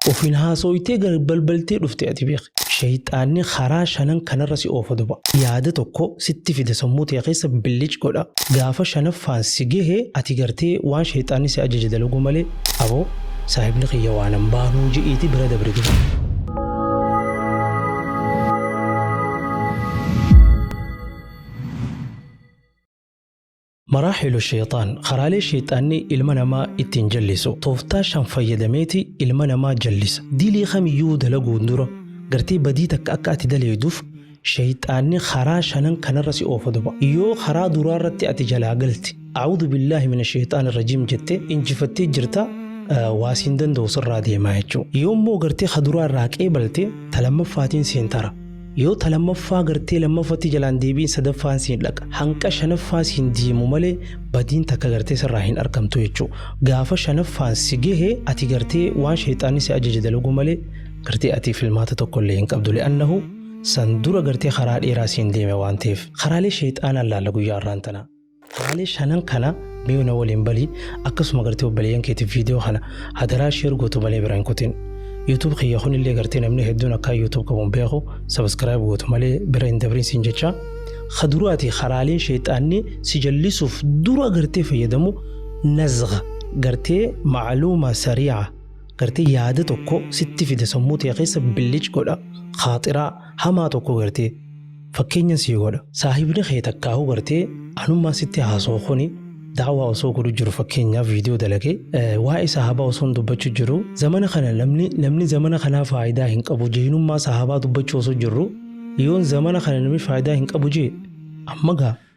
Ofiin haasooytee gad balbaltee dhufte ati beeki. Sheyxaanni karaa shanan kanarra si oofa duba. Yaada tokko sitti fida sammuu tee keessa billic godha. Gaafa shanaffaan si gehe ati gartee waan sheyxaanni si ajaje dalaguu malee aboo saahibni kiyya waanan baanuu je'iiti bira dabri duba. Maraahilu Sheyxaan karaalee sheyxaanni ilma namaa ittiin jallisu tooftaa shan fayyadameeti ilma namaa jallisa. Dilii kamiyyuu dalaguun dura gartee badii takka akka ati daleeyduuf sheyxaanni karaa shanan kanarra si oofa duba. Yoo karaa duraarratti ati jalaa galte A'uuzu billaahi mina sheyxaani rajiim jette injifattee jirta waa siin danda'u sirraa deema jechuudha. Yoommoo gartee ka duraa irraa qeebalte ta lammaffaatiin seentara. Yoo ta lammaffaa gartee lammafatti jalaan deebiin sadaffaan siin dhaqa hanqa shanaffaa siin deemu malee badiin takka gartee sirraa hin argamtu jechuu gaafa shanaffaan si gehe ati gartee waan sheexaanni si ajaje dalagu malee gartee ati filmaata tokko illee hin qabdu li'annahu san dura gartee karaa dheeraa siin deeme waan ta'eef karaalee sheexaanaan laalla guyyaa irraan tanaa. Waalee shanan kana mee na waliin bali akkasuma gartee obboleeyyan keetiif viidiyoo kana hadaraa sheer gootu malee bira hin kutin. YouTube kiyya kun illee gartee namni hedduun akkaa YouTube qabuun beeku subscribe gootu malee bira hin dabrin siin jecha. Kaduraati karaalee sheexaanni si jallisuuf dura gartee fayyadamu nazga gartee maaluuma sariica gartee yaada tokko sitti fida sammuu ta'e keessa billic godha khaaxiraa hamaa tokko gartee Fakkeenya sii godha. Saahibni kee takkaahuu gartee anummaan sitti haasawu kuni da'awaa osoo godhu jiru fakkeenyaaf viidiyoo dalage waa'ee sahaabaa osoo hin dubbachu jiru zamana kana namni namni zamana kanaa faayidaa hin qabu jeynummaa sahaabaa dubbachuu osoo jirru yoon zamana kana namni faayidaa hin qabu jee amma gaa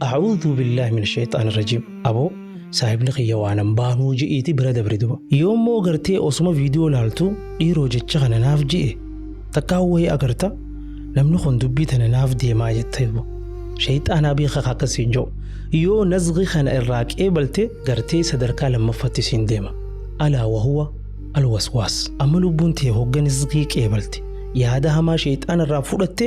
A'uudhuu billaah min sheexaan rajiim aboo saahibni kiyya waanan baanuu je'iiti bira dabre duba yoo immoo gartee osuma viidiyoo laaltu dhiiroo jecha kana naaf je'e takkaa wayii agarta namni kun dubbii tana naaf deemaa jetta duba sheexaanaa beeka akkas siin je'u yoo nazghi kana irraa qeebalte gartee sadarkaa lammaffatti siin deema alaa wahuwa alwaswaas amma lubbuun tee hogga nazgii qeebalte yaada hamaa sheexaana irraa fudhatte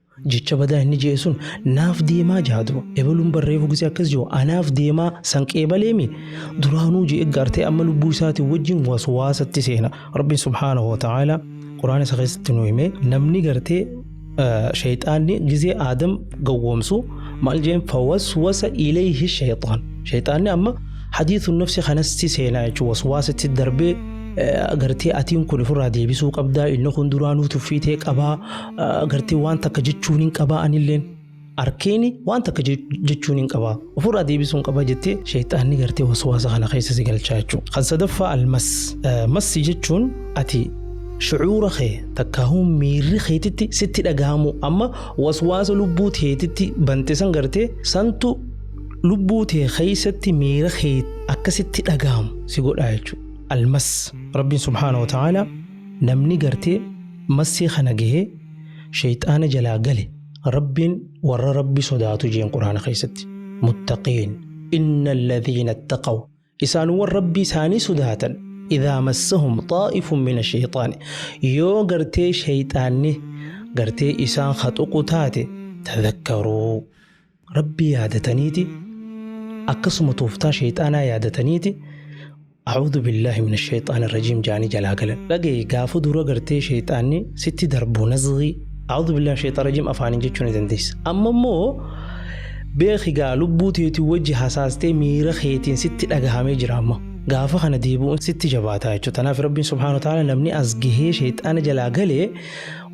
Jecha badaa inni je'e sun naaf deemaa jaha dura. Ebaluun bar reefu gisee akkas je'u anaaf deemaa san qeebalee mi? Duraanuu je'e gaartee amma lubbuu isaatiin wajjin waswaasatti seena. Rabbiin subhaanahu wa ta'aalaa Qur'aana isa keessatti nu hime namni gartee shayxaanni gisee Aadam gowwoomsu maal je'een fawaswasa ilayhi shayxaan. Shayxaanni amma hadiisun nafsi kanatti seena jechuun waswaasatti darbee gartee atiin kun ofirraa deebisuu qabdaa inni kun duraanuu tuffiitee qabaa Agartee waan takka jechuun hin qabaa anilleen arkeeni waan takka je- jechuun hin qabaa ofirraa deebisuun qaba jettee sheexaanni gartee waswaasa kana keessa si galchaa jechuudha. Kan sadaffaa almas Eh, massi jechuun ati shucuura kee takkaahuu miirri keetitti sitti dhagahamu amma waswaasa lubbuu teetitti bante san gartee santu lubbuu tee keessatti miira kee akkasitti dhagahamu si godhaa jechuudha. Almas rabbiin subhaanahu wa ta'aala Namni gartee massii kana gahee sheyxaana jalaa gale Rabbiin warra Rabbi sodaatu jeen Qur'aana keessatti. Muttaqiin. Inna alladhiina ittaqaw. Isaanwwan Rabbii isaanii sodaatan idhaa massahum xaa'ifun mina sheyxaani. Yoo gartee sheyxaanni gartee isaan ka tuqu taate tadhakkaruu. Rabbii yaadataniiti akkasuma tooftaa sheyxaanaa yaadataniiti A'uudhu billaahi min sheyxaani rajiim jaanii jalaa galan. Dhagaye gaafa dura gartee sheyxaanni sitti darbu nazgii A'uudhu billaahi sheyxaani rajiim afaaniin jechuu ni dandeessa. Amma immoo beeki gaa lubbuu teetii wajji hasaastee miira keetiin sitti dhagahamee jira amma. Gaafa kana deebi'uun sitti jabaataa jechuudha. Tanaaf Rabbiin subhaanahu wa ta'aala namni as gahee sheyxaana jalaa galee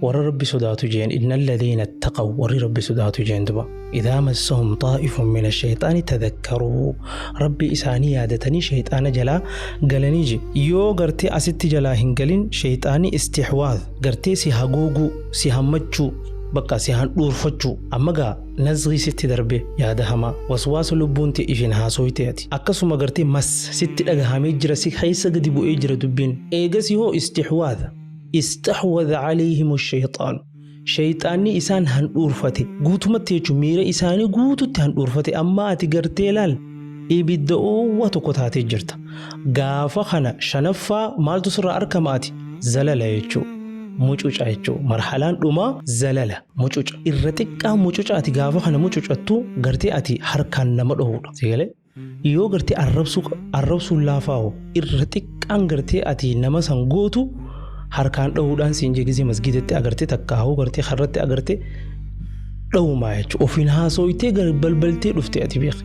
warra rabbi sodaatu jeen inna alladhiina ittaqaw warri rabbi sodaatu jeen duba idaa massahum xaa'ifun min ashayxaani tadakkaruu rabbi isaanii yaadatanii shayxaana jalaa galanii je yoo gartee asitti jalaa hin galin shayxaani istixwaad gartee si haguuguu si hammachuu bakka si handhuurfachuu amma gaa nazrii sitti darbe yaada hamaa waswaasa lubbuun ta'e ishin haasooyte ati akkasuma gartee mas sitti dhagahamee jira si keessa gadi bu'ee jira dubbiin eegasi hoo istixwaada Istaxwada caleehimu shayxaanu. Shayxaanni isaan handhuurfate guutumatti jechuun miira isaanii guututti handhuurfate amma ati gartee laal ibidda oowwa tokko taatee jirta. Gaafa kana shanaffaa maaltu sirraa arkama ati zalala jechuu mucuca jechuu marhalaan dhumaa zalala mucuca irra xiqqaa mucuca ati gaafa kana mucucattu gartee ati harkaan nama dhohuudha. Yoo gartee arrabsuu qa- arrabsuun laafaa hoo irra xiqqaan gartee ati nama san gootu harkaan dhahuudhaan siin jegisee masgiidatti agartee takka hoo gartee karratti agartee dhahumaa jechuudha. Ofiin haasooytee gar- balbaltee dhufte ati beeki.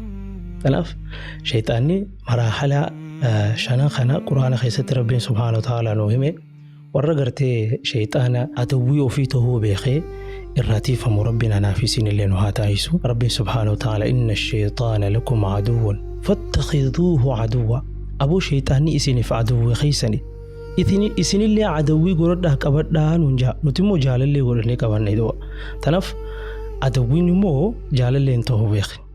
Kanaaf shayxaanni maraahalaa eh, shanan kana quraana keessatti rabbiin subhaanahu wa ta'aalaa nuu hime. Warra gartee shayxaana adawwii ofii tahuu beekee irraa tiifamu Rabbiin anaa fi isiinillee nu haa taasisu. Rabbiin subhaanahu wa ta'aala inna shayxaana lakum aduwwun fattakhiduuhu aduwwa. Aboo shayxaanni isiniif adawwii keessani. Itini- Isinillee adawwii godhadhaa qabadhaa nuun jaa. Nuti immoo jaalallee godhannee qabanne du'a. Tanaaf adawwiin immoo jaalallee hin tahu beeki.